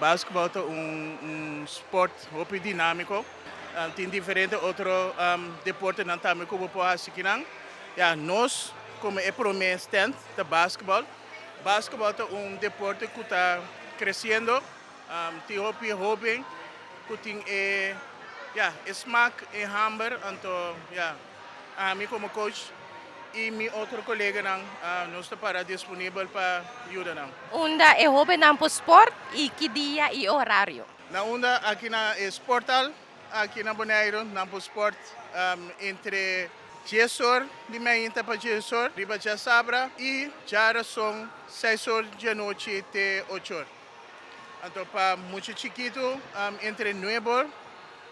Basketbal ta un sport hopi dinamiko. Tin diferente otro deportenan tambe ku bo por hasi aki nan. Ya, nos komo e promé stand ta basketbal. Basketbal ta un deporte ku ta kresiendo. Tin hopi hoben ku tin e, ya, e smak, e hamber. Anto, ya. Ami komo coach i mi otro koleganan nos ta para disponibel pa yuda nan. Unda e hobennan por sport i ki dia i horario? Na unda aki na e sporthal aki na Boneiru nan por sport entre dies or di miahinta pa dies or riba djasabra i djarason seis or di anochi te ocho or. Anto pa mucha chikitu entre nuebe or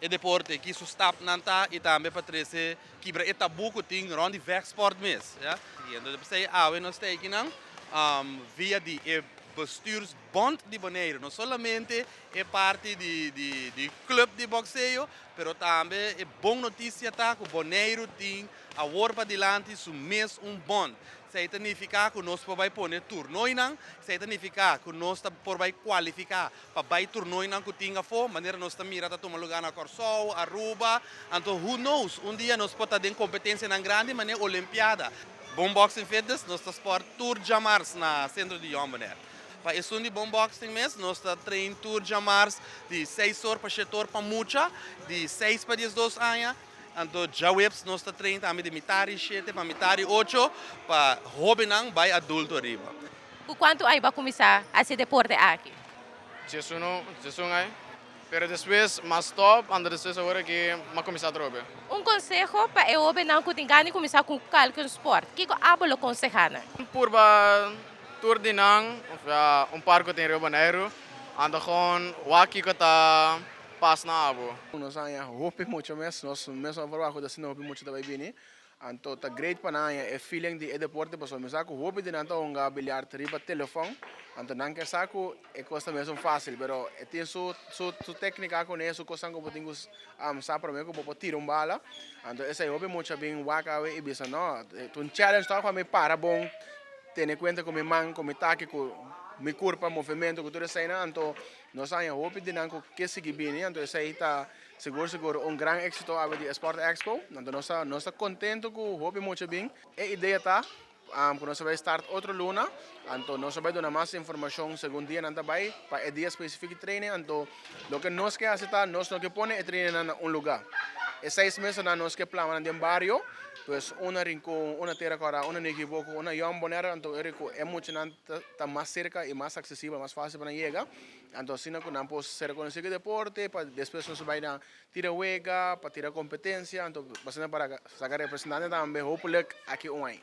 e deporte, ki su stap nan ta y tambe pa trece kibra e tabú cu tin rond di vegsport mes. Ya. Y entonces pasey awe nos teikinan via di e bestuursbond di Boneiru, no solamente e parti di di di club di boxeo, pero tambe e bon noticia ta cu Boneiru tin awor padilanti su mes un bond. Esey ta nifica cu nos por bay pone turnoinan, esey ta nifica cu nos ta por bay cualifica pa bai turnoinan ku tin afó, manera nos ta mira ta tuma lugá na Kòrsou, Aruba, anto who knows, un dia nos por ta den kompetensianan grandi manera Olimpiada. Bon Boxing Fitness nos ta spòrt tur djamars na Sentro di Jòmbo Nèr. Pa esun di Bon Boxing mes nos ta train tur djamars di seis or pa shete or pa mucha di seis pa diesdos aña, anto djaweps nos ta train tambe di mitar di shete pa mitar di ocho pa hóbennan bai adulto ariba. Cu cuantu ai bo cuminsa hasi e deporte aki? Sesuno, un sesun ai. Pero despues m'a stop, anda despues awor aki m'a cuminsa atrobe. Un conseho pa e hobennan cu tin gana di cuminsa cu calke un sport, kico abo lo conseha nan? Purba tur di nan, ofsea un par cu tin riba Boneiru, anda gewoon wak kico ta pas na abo. Nos a haña hopi mucho mes, nos mesmo a proba cu ta haciendo hopi mucho ta bay bini. Anto ta great pa nan haña e feeling di e deporte pasobra mi sa ku hopi di nan ta hunga biliart riba telefòn, anto nan ke sa ku e kos ta mesun fásil, pero e tin su su su téknika kuné, su kosnan ku bo tin ku sa promé ku bo por tira un bala, anto esei hopi mucha bin wak awe i bisa nò ta un challenge tòg pa mi para bon, tene kuenta ku mi man, ku mi taki, ku mi kurpa, movementu ku tur eseinan, anto nos haña hopi di nan ku ke sigui bini, anto esei ta Segur segur un gran exito awe di e Sport Expo. Nan ta nos ta nos ta contento cu hopi mucha a bin. E idea ta cu nos a bay start otro luna anto nos a bay duna mas informacion segun dia nan ta bay pa e dia specific di training anto loke nos ke haci ta nos no ke pone e training nan na un lugar e seis mes anan nos ke plama nan den bario pues un na Rincon un na Tera Cuara un na Niki Boko un na Yom Bonaire anto e mucha nan ta mas cerca y mas accesible mas facil pa nan yega Anto asina cu nan por ser reconoci cu e deporte, pa despues nos a bay na tira wega, pa tira competencia, anto basina para saca representante tambe hopelijk aki un ay.